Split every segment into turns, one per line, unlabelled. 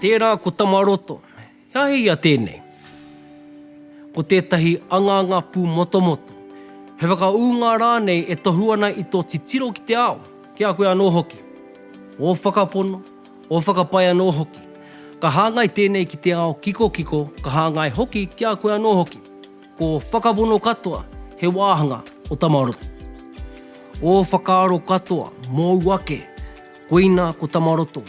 Tērā ko Tamaroto. He aha ia tēnei? Ko tētahi angaanga pūmotomoto, he whakaūnga rānei e tohu ana i tō titiro ki te ao, ki a koe anō hoki. Ō whakapono, ō whakapae anō hoki. Ka hāngai tēnei ki te ao kikokiko, ka hāngai hoki ki a koe anō hoki. Ko Whakapono katoa he wāhanga o Tamaroto. Ō whakaaro katoa mōu ake, koina ko Tamaroto.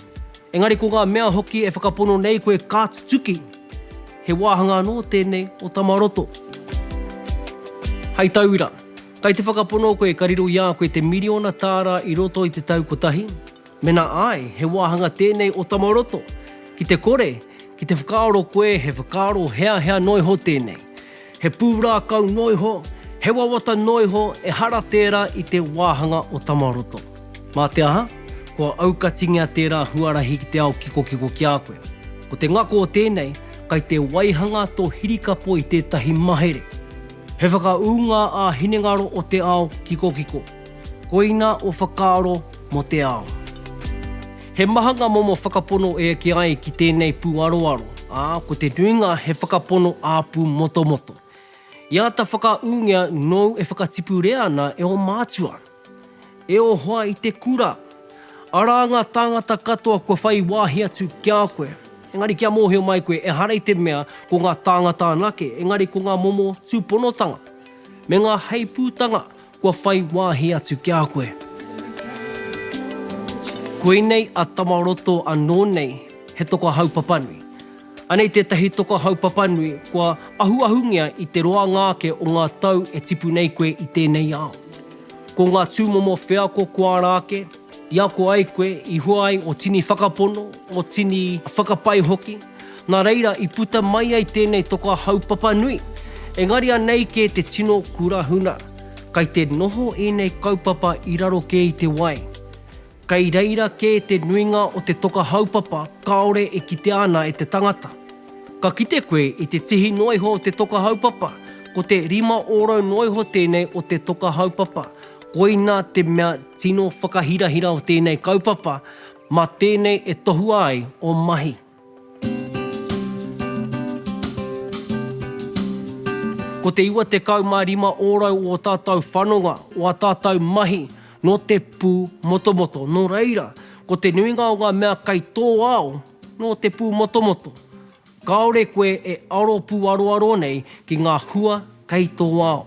Engari ko ngā mea hoki e whakapono nei koe ka tutuki, he wāhanga anō tēnei o Tamaroto. Hei tauira, kai te whakapono koe ka riro i a koe te miriona tāra i roto i te tau kotahi, Mena ae, he wahanga tenei o tama roto. Ki te kore, ki te whakaaro koe he whakaaro heahea noiho tenei. He purākau noiho, he wawata noiho ehara tera i te wahanga o tama roto. Ma te aha, kua aukatingia tera huarahi ki te ao kikokiko ki a koe. Ko te ngako o tenei, kai te waihanga to hirikapo i tetahi mahere. He whakaūnga ā-hinengaro o te ao kikokiko. Koina o whakaaro mo te ao. He maha nga momo whakapono e eke ai ki tenei pu aroaro, a ko te nuinga he whakapono apu motomoto. I ata whakaungea nou e whakatipurea ana e o matua. E o hoa i te kura. Ara nga tangata katoa kua whai wahi atu kia koe. Engari kia mohio mai koe ehara i te mea ko nga tangata anake engari ko nga momo tuponotanga, me nga heiputanga Kua whai wāhi atu ki a koe. Koinei a Tamaroto anō nei he toka haupapanui. Anei tētahi toka haupapanui kua ahuahungia i te roanga ake o ngā tau e tipu nei koe i tēnei ao. Ko ngā tūmomo wheako kua ara ake, i ako ai koe, i hua ai o tini whakapono, o tini whakapae hoki. Nā reira, i puta mai ai tēnei toka haupapa nui, engari anei kē te tino kura huna. Kai te noho ēnei kaupapa i raro kē i te wai. Kai reira kē te nuinga o te toka haupapa kāore e kitea ana e te tangata. Ka kite koe i te tihi noa iho o te toka haupapa, ko te rima ōrau noa iho tēnei o te toka haupapa, koina te mea tino whakahirahira o tēnei kaupapa, Mā tēnei e tohua ai ō mahi. Ko te 95 ōrau o ō tātou whanonga, o ā tātou mahi, nō te pū motomoto. Nō reira, ko te nuinga o ngā mea kei tō ao, nō te pū motomoto. Kāore koe e aro pūaroaro nei ki ngā hua kei tō ao.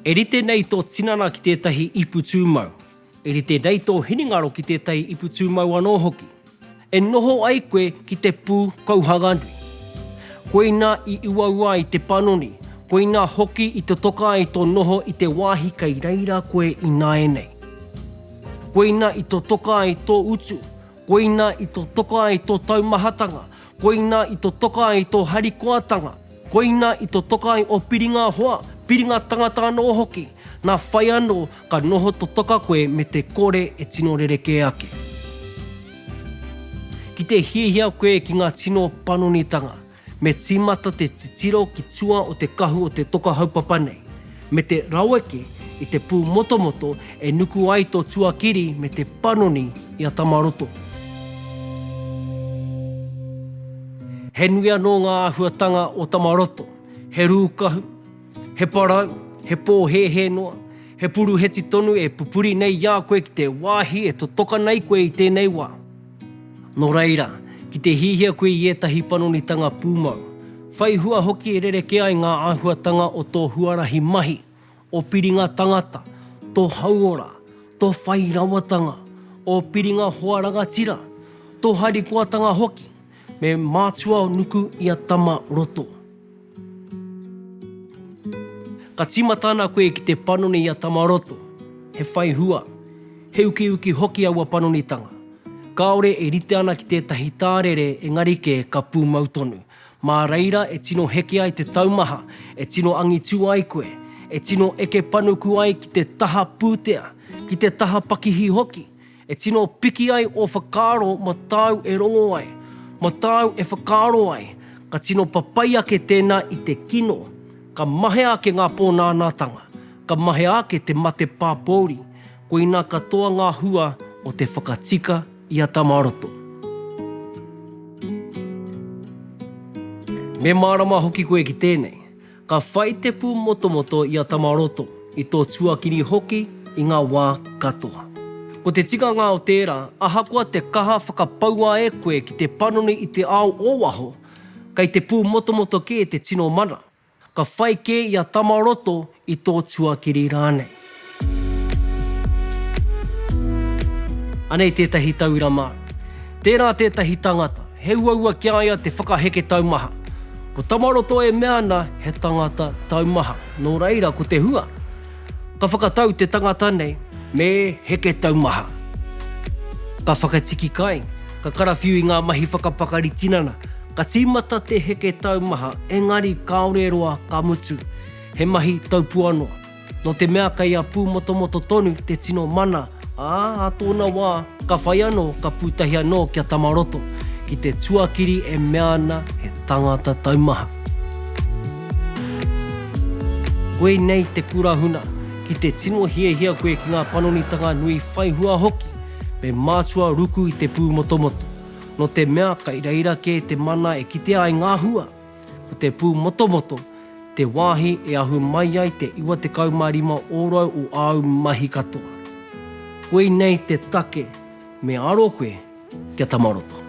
E rite nei tō tinana ki tētahi ipu tūmau. E rite nei tō hinengaro ki tētahi ipu tūmau anō hoki, e noho ai koe ki te pū kauhanga nui. Koina i uaua ai te panoni, koina hoki i totoka ai tō noho i te wāhi kei reira koe ināianei. Koina i totoka ai tō utu, koina i totoka ai tō taumahatanga, Koina i to toka ai to harikoatanga, koina i to toka ai o piringa hoa, piringa tangata anō hoki, na whai anō ka noho to toka koe me te kore e tino rerekē ake. Ki te hiahia koe ki nga tino panonitanga, me tīmata te titiro ki tua o te kahu o te toka haupapa nei. me te raweke i te pū motomoto e nuku ai tō tuakiri me te panoni i a Tamaroto. He nui anō ngā āhuatanga o Tamaroto, he rūkahu, he parau, he pōhēhē noa, he puruheti tonu e pupuri nei i a koe ki te wāhi e totoka nei koe i tēnei wā. Nō reira, ki te hiahia koe i ētahi panonitanga pūmau, whai hua hoki e rerekē ai ngā āhuatanga o tō huarahi mahi, ō piringa tangata, tō hauora, tō whai rawatanga, ō piringa hoa rangatira, tō harikoatanga hoki, me mātua nuku ia tama roto. Ka tīmata ana koe ki te panoni i a Tamaroto, he whai hua, he ukiuki hoki aua panonitanga. Kāore e rite ana ki tētahi tārere engari kē ka pūmau tonu. Mā reira e tino heke ai te taumaha, e tino angitu ai koe, e tino eke panuku ai ki te taha pūtea, ki te taha pakihi hoki, E tino piki ai ō whakaaro mā tāu e rongo ai, mā tāu e whakaaro ai, ka tino papai ake tēnā i te kino, ka mahea ake ngā pōnānātanga, ka mahea ake te mate pāpōuri, koinā katoa ngā hua o te whakatika i a Tamaroto. Me mārama hoki koe ki tēnei. Ka whai te pū motomoto i a Tamaroto, i tō tuakiri hoki i ngā wā katoa. Ko te tikanga o tērā, ahakoa te kaha whakapaua e koe ki te panoni i te ao o waho, kei te pū motomoto kē te tino mana, ka whai kē i a Tamaroto i tō tuakiri rānei. Anei tētahi tauira māu. Tērā tētahi tangata, he uaua ki a ia te whakaheke taumaha. Ko Tamaroto e mea ana he tangata taumaha, nō reira ko te hua, ka whakatau te tangata nei me heke taumaha. Ka whakatiki kai, ka karawhiu i ngā mahi whakapakari tinana, ka tīmata te heke taumaha, engari kāore roa ka mutu, he mahi taupua noa. Nō te mea kei a Pūmotomoto tonu te tino mana, ā, ā tōna wā, ka whai anō, ka pūtahi anō ki a Tamaroto, ki te tuakiri e mea ana he tangata taumaha. Koinei te kura huna, ki te tino hiahia koe ki ngā panonitanga nui whai hua hoki, me mātua ruku i te pūmotomoto, nō te mea kei reira kē te mana e kitea ai ngā hua. Ko te Pūmotomoto te wāhi e ahu mai ai te 95 ōrau o āu mahi katoa. Koinei te take me aro koe kia tama roto.